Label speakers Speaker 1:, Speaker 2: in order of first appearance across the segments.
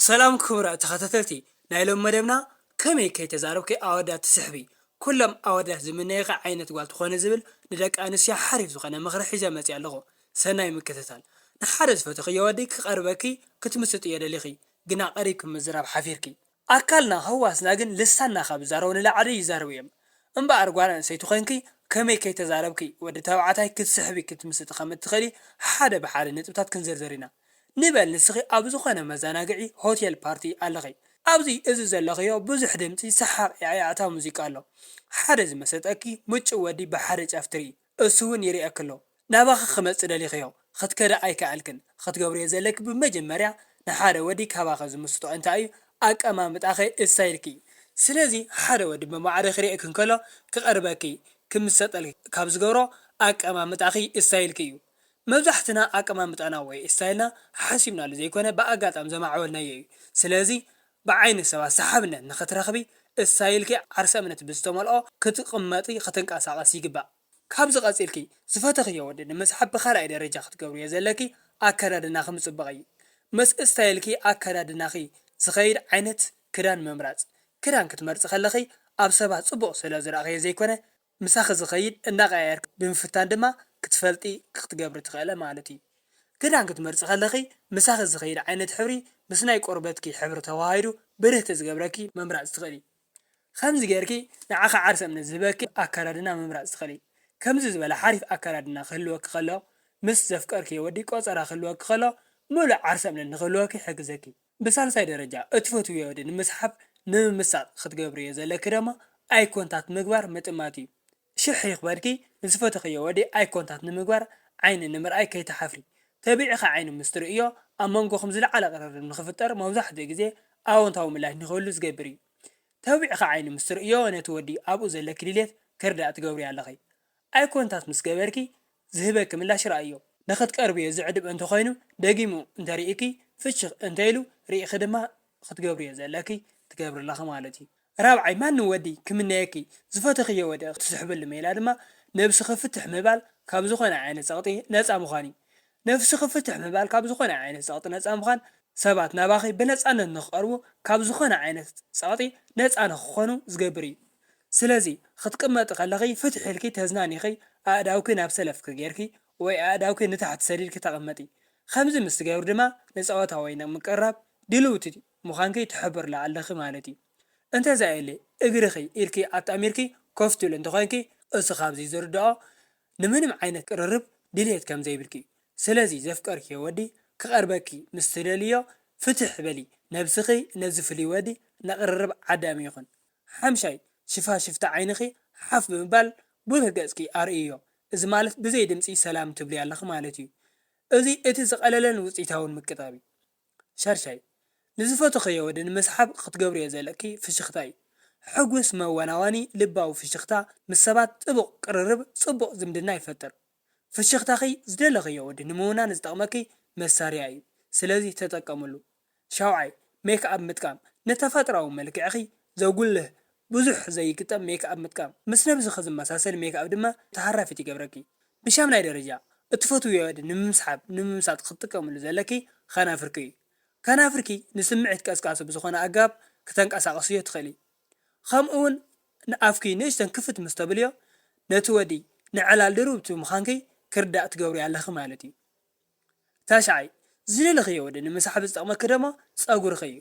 Speaker 1: ሰላም ክቡራት ተኸታተልቲ ናይ ሎሚ መደብና ከመይ ከይተዛረብኪ ኣወዳት ትስሕቢ ኩሎም ኣወዳት ዝምነይኺ ዓይነት ጓል ትኾኒ ዝብል ንደቂ ኣንስትዮ ሓሪፍ ዝኾነ ምኽሪ ሒዘ መፂኣ ኣለኹ ሰናይ ምክትታል ንሓደ ዝፈተኽዮ ወዲ ክቀርበኪ ክትምስጥዮ ደሊኺ ግና ቀሪብኪ ምዝራብ ሓፊርኪ ኣካልና ህዋስና ግን ልሳንና ካብ ዝዛረቦ ንላዕሊ ይዛረቡ እዮም እምበኣር ጓል ኣንስተይቲ ኮይንኪ ከመይ ከይተዛረብኪ ወዲ ተባዕታይ ክትስሕቢ ክትምስጢ ከም እትኽእሊ ሓደ ብሓደ ነጥብታት ክንዝርዝር ኢና። ንበል ንስኺ ኣብ ዝኾነ መዛናግዒ ሆቴል ፓርቲ ኣለኺ ኣብዚ እዚ ዘለኽዮ ብዙሕ ድምጺ ሰሓቕ ያዕያዕታ ሙዚቃ ኣሎ ሓደ ዝመሰጠኪ ምጩእ ወዲ ብሓደ ጫፍ ትሪኢ እሱ ውን ይሪኤኪ ኣሎ ናባኺ ክመጽእ ደሊኽዮ ኽትከዲ ኣይከኣልክን ኽትገብርዮ ዘለኪ ብመጀመርያ ንሓደ ወዲ ካባኺ ዝምስጦ እንታይ'ዩ ኣቀማምጣኺ እስታይልኪ ስለዚ ሓደ ወዲ ብማዕረ ክሪኤኪ እንከሎ ክቐርበኪ ክምሰጠልኪ ካብ ዝገብሮ ኣቀማምጣኺ እስታይልኪ'ዩ መብዛሕትና ኣቀማምጣና ወይ ስታይልና ሓሓሲብናሉ ዘይኮነ ብኣጋጣሚ ዘማዕበልናዮ እዩ። ስለዚ ብዓይኒ ሰባት ሰሓብነት ንኽትረኽቢ ስታይልኪ ዓርሰ እምነት ብዝተመልኦ ክትቕመጢ ክትንቀሳቐሲ ይግባእ። ካብዚ ቀጺልኪ ዝፈተኽዮ ወዲ ንምስሓብ ብኻልኣይ ደረጃ ክትገብርዮ ዘለኪ ኣከዳድናኺ ምጽባቕ እዩ። ምስ ስታይልኪ ኣከዳድናኺ ዝኸይድ ዓይነት ክዳን ምምራጽ። ክዳን ክትመርጺ ከለኺ ኣብ ሰባት ጽቡቕ ስለዝረኣኽዮ ዘይኮነ፣ ምሳኺ ዝኸይድ እናቐያየርኪ ብምፍታን ድማ ክትፈልጢ ክትገብሪ ትኽእለ ማለት እዩ። ክዳን ክትመርጺ ከለኺ ምሳኺ ዝኸይድ ዓይነት ሕብሪ ምስ ናይ ቆርበትኪ ሕብሪ ተወሃሂዱ ብርህቲ ዝገብረኪ ምምራጽ ትኽእሊ። ከምዚ ጌርኪ ንዓኺ ዓርሰ እምነት ዝህበኪ ኣከዳድና ምምራጽ ትኽእሊ። ከምዚ ዝበለ ሓሪፍ ኣከዳድና ክህልወኪ ከሎ ምስ ዘፍቀርክዮ ወዲ ቆጸራ ክህልወኪ ከሎ ምሉእ ዓርሰ እምነት ንኽህልወኪ ይሕግዘኪ። ብሳልሳይ ደረጃ እትፈትውዮ ወዲ ንምስሓብ ንምምሳጥ ክትገብርዮ ዘለኪ ደማ ኣይ ኮንታት ምግባር ምጥማት እዩ ሽሕ ይክበድኪ ንዝፈተክዮ ወዲ ኣይ ኮንታት ንምግባር ዓይኒ ንምርኣይ ከይትሓፍሪ ተቢዕኪ ዓይኑ ምስ ትርእዮ ኣብ መንጎኩም ዝለዓለ ቅርርብ ንክፍጠር መብዛሕትኡ ግዜ ኣወንታዊ ምላሽ ንክህሉ ዝገብር እዩ ተቢዕኪ ዓይኑ ምስ ትርእዮ ነቲ ወዲ ኣብኡ ዘለኪ ድልየት ክርዳእ ትገብርዮ ኣለኪ ኣይ ኮንታት ምስ ገበርኪ ዝህበኪ ምላሽ ርኣይዮ። ንኽትቀርብዮ ዘዕድብ እንተ ዀይኑ፣ ደጊሙ እንተ ርኢኪ፣ ፍሽኽ እንተ ኢሉ ርኢኺ ድማ ኽትገብርዮ ዘለኪ ትገብሪ ኣለኺ ማለት እዩ። ራብዓይ፣ ማንም ወዲ ኪምነየኪ፣ ዝፈተኽዮ ወዲ ኽትስሕብሉ ሜላ ድማ፣ ነብስኺ ፍትሕ ምባል ካብ ዝዀነ ዓይነት ጸቕጢ ነጻ ምዃን እዩ። ነፍስኺ ፍትሕ ምባል ካብ ዝዀነ ዓይነት ጸቕጢ ነጻ ምዃን፣ ሰባት ናባኺ ብነጻነት ንኽቐርቡ፣ ካብ ዝዀነ ዓይነት ጸቕጢ ነጻ ንኽዀኑ ዝገብር እዩ። ስለዚ ክትቅመጢ ከለኺ ፍትሕ ኢልኪ ተዝናኒኺ ኣእዳውኪ ናብ ሰለፍኪ ጌርኪ ወይ ኣእዳውኪ ንታሕቲ ሰዲድኪ ተቐመጢ። ከምዚ ምስ ትገብሪ ድማ ንጸወታ ወይ ንምቅርራብ ድልውቲ ምዃንኪ ትሕብርላ ኣለኺ ማለት እዩ። እንተዘየለ እግርኺ ኢድኪ ኣጣሚርኪ ኮፍ ትብሊ እንተኾይንኪ እሱ ካብዚ ዝርድኦ ንምንም ዓይነት ቅርርብ ድልየት ከምዘይብልኪ እዩ። ስለዚ ዘፍቀርክዮ ወዲ ክቐርበኪ ምስ ትደልይዮ ፍትሕ በሊ ነብስኺ ነዚ ፍሉይ ወዲ ንቕርርብ ዓዳሚ ይኹን። ሓምሻይ ሽፋሽፍቲ ዓይንኺ ሓፍ ብምባል ብሩህ ገጽኪ ኣርእይዮ። እዚ ማለት ብዘይ ድምጺ ሰላም ትብልዮ ኣለኺ ማለት እዩ። እዚ እቲ ዝቐለለን ውጽኢታውን ምቅጣብ እዩ። ሻድሻይ ንዝፈተኽዮ ወዲ ንምስሓብ ክትገብርዮ ዘለኪ ፍሽኽታ እዩ። ሕጉስ መወናወኒ ልባዊ ፍሽኽታ ምስ ሰባት ጥቡቕ ቅርርብ ጽቡቕ ዝምድና ይፈጥር። ፍሽኽታኺ ዝደለኽዮ ወዲ ንምውናን ዝጠቕመኪ መሳርያ እዩ ስለዚ ተጠቀምሉ። ሻውዓይ፣ ሜክ ኣፕ ምጥቃም፣ ንተፈጥሮኣዊ መልክዕኺ ዘጉልህ ብዙሕ ዘይግጠም ሜክ ኣፕ ምጥቃም፣ ምስ ነብስኺ ዝመሳሰል ሜክ ኣፕ ድማ ተሃራፊት ይገብረኪ። ብሻምናይ ደረጃ፣ እትፈትውዮ ወዲ ንምምስሓብ ንምምሳጥ ክትጥቀምሉ ዘለኪ ኸናፍርኪ እዩ። ከናፍርኪ ንስምዒት ቀስቃሲ ብዝኾነ ኣገባብ ክተንቀሳቕስዮ ትኽእሊ። ኸምኡውን ንኣፍኪ ንእሽተን ክፍት ምስ ተብልዮ ነቲ ወዲ ንዕላል ድርብቲ ምዃንኪ ክርዳእ ትገብርዮ ኣለኺ ማለት እዩ። ታሽዓይ፣ ዝደለኽዮ ወዲ ንምስሓብ ዝጠቕመኪ ደማ ጸጉርኺ እዩ።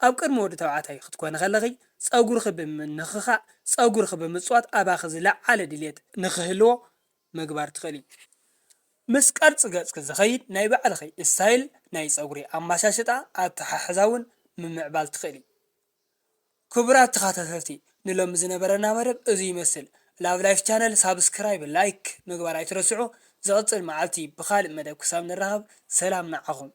Speaker 1: ኣብ ቅድሚ ወዲ ተባዕታይ ክትኮኒ ከለኺ ጸጉርኺ ብምንኽኻእ፣ ጸጉርኺ ብምጽዋት ኣባኺ ዝለዓለ ድልየት ንኽህልዎ ምግባር ትኽእሊ። ምስ ቅርጺ ገጽኪ ዝኸይድ ናይ ባዕልኺ ስታይል ናይ ጸጉሪ ኣመሻሽጣ ኣተሓሕዛ እውን ምምዕባል ትኽእሊ። ክቡራት ተኻታተልቲ ንሎሚ ዝነበረና መደብ እዙይ ይመስል Love Life Channel ሳብስክራይብ ላይክ ምግባር ኣይትረስዑ ዝቕፅል መዓልቲ ብኻሊእ መደብ ክሳብ ንራኸብ ሰላም ንዓኹም።